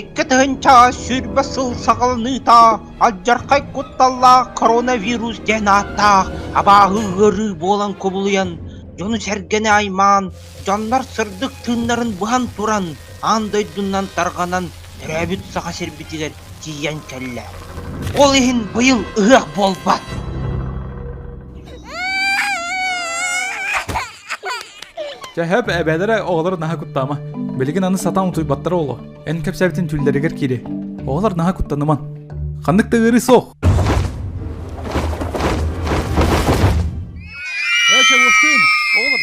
Икки тыһыынча сүүрбэ сыл саҕаланыыта алдьархай кутталлаах коронавирус диэн ааттаах абааһы ыарыы буолан кубулуйан, дьону-сэргэни аймаан, дьоннор сырдык тыыннарын быһан туран, аан дойдунан тарҕанан төрөөбүт Саха сирбитигэр тиийэн кэллэ. Ол иһин быйыл ыһыах буолбат. Чэһэп эбээлэрэ оҕолор наһаа куттаама. Билигин аны сатаан утуйбаттара оло. Эн кэпсээбитин түүллэригэр кири. Оҕолор наһаа куттаныман. Ханнык да ыарыы суох. Ээ Чавушкин, оҕолор.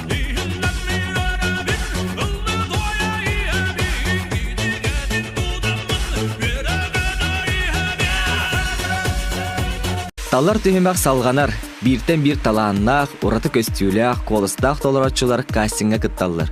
Талар түһүмэх салҕанар. Бииртэн биир талааннаах, ураты көстүүлээх, куоластаах толорооччулар кастиҥҥа кытталлар.